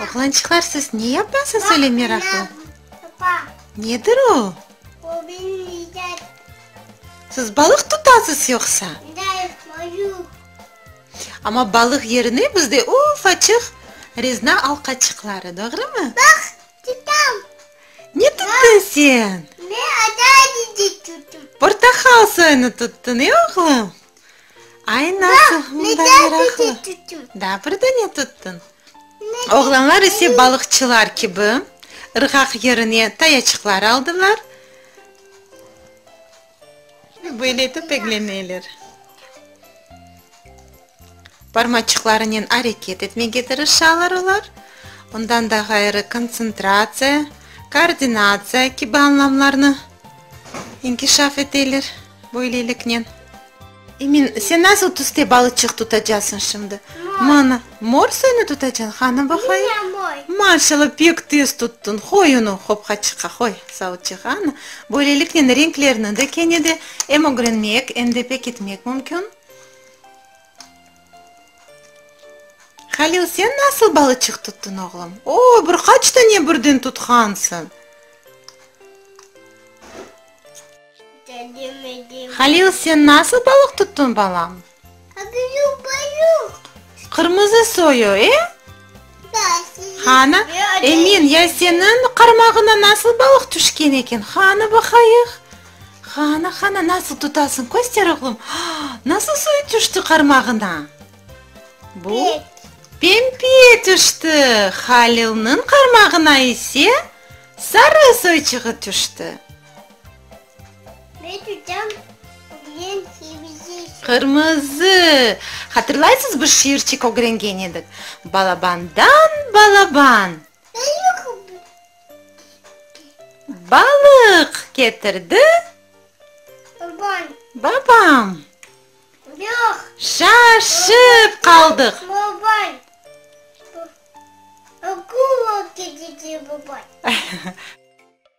Oğlançıqlar, siz ne yapasız öyle meraqlı? Nedir o? Siz balıq tutasız yoqsa? Amma balıq yerine bizde ufaçıq rezna alqaçıqları, doğrumı? Ne tuttun sen? Portahal soyunu tuttun, e, oğlum? Ay, nasıl? Mında meraqlı. Da, bir dane tuttın. Oğlanlar ise balıqçılar kibi, ırğaq yerine tayaçıqlar aldılar ve böyle etip egleneler. Barmaçıqlarınen areket etmege tırışalar olar. Ondan da ğayrı kontsentratsiya, koordinatsiya kibi anlamlarnı inkişaf eteler. Böyleliknen. Emin, sen nasıl tüste balıçıq tutacasıñ şimdi? Mor. Mor suyunı tutacañ, hanı baqayım? Maşalla, pek tez tuttıñ. Qoy unı qopqa çıqa, qoy, savutçıq, anı. Böyleliknen, renklerni de kene de em ögrenmek, em de pekitmek mümkün. Halil, sen nasıl balıçıq tuttıñ, oğlum? O, bir qaç tane birden tutqansıñ! Halil, sen nasıl balıq tuttun, balam? Qırmızı soyu, e? Hanı, Emin, ya seniñ qarmağına nasıl balıq tüşken eken? Hanı baqayıq. Hanı, hanı, nasıl tutasıñ, köster, oğlum. Nasıl soyu tüşti qarmağına? Bu, pembe tüşti, Halilniñ qarmağına ise sarı soyçığı tüşti. Men tüten bilen kimizi içim. Qırmızı! Hatırlaysız, bir şiirçik ögrengen edik. Balabandan balaban. Balıq ketirdi. Balıq ketirdi. Babam. Babam. Yoq. Şaşıp qaldıq. Babam. Akula ketirdi babam.